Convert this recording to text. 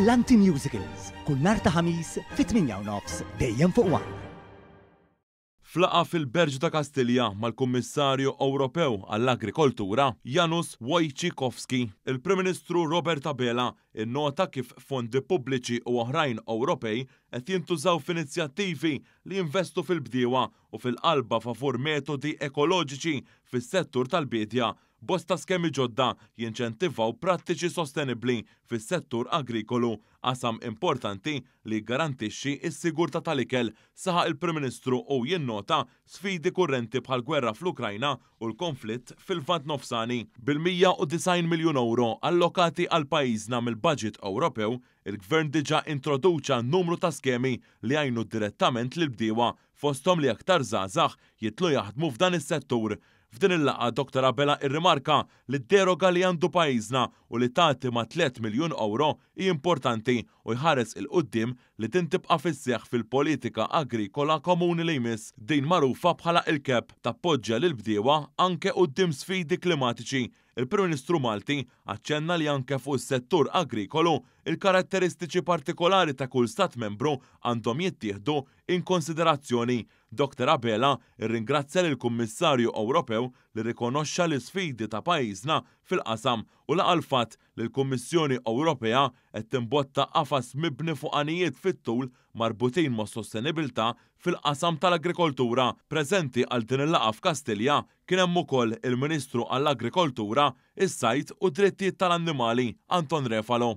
Brillanti Musicals, kull nhar ta' Ħamis fit-tmienja u nofs, dejjem fuq one. F'laqgħa fil-Belġju ta' Kastilja mal-Kummissarju Ewropew għall-Agrikoltura, Janusz Wojciechowski, il-Prim Ministru Robert Abela nnota kif fondi pubbliċi u oħrajn Ewropej qed jintużaw f'inizjattivi li jinvestu fil-bdiewa u fil-qalba favur metodi ekoloġiċi fis-settur tal-biedja Bosta skemi ġodda jinċentivaw prattiċi sostenibbli fis-settur agrikolu, qasam importanti li jiggarantixxi s-sigurtà tal-ikel, saħaq il-Prim Ministru u jinnota sfidi kurrenti bħall-gwerra fl-Ukrajna u l-konflitt fil-Lvant Nofsani. Bil-190 miljun ewro allokati għal pajjiżna mill-baġit Ewropew, il-Gvern diġà introduċa numru ta' skemi li jgħinu direttament lill-bdiewa fosthom li aktar żgħażagħ jidħlu jaħdmu f'dan is-settur. F'din il-laqgħa Dottor Abela irrimarka li d-deroga li għandu pajjiżna u li tgħaddi ma' tliet miljun ewro hi importanti u jħares 'il quddiem li din tibqa' fis-seħħ fil-Politika Agrikola Komuni li jmiss. Din magħrufa bħala il-CAP tappoġġja lill-bdiewa anke quddiem sfidi klimatiċi Il-Prim Ministru Malti aċċenna li anke fuq is-settur agrikolu, il-karatteristiċi partikolari ta' kull Stat Membru għandhom jittieħdu in konsiderazzjoni. Dr Abela rringrazzja lill-Kummissarju Ewropew li rrikonoxxa l-isfidi ta' pajjiżna fil-qasam u laqa' l-fatt li l-Kummissjoni Ewropea qed timbotta qafas mibni fuq għanijiet fit-tul marbutin mas-sostenibilità fil-qasam tal-agrikoltura. Preżenti għal din il-laqgħa f'Kastilja Kien hemm ukoll il-Ministru għall-Agrikoltura, is-Sajd u d-Drittijiet tal-Annimali, Anton Refalo.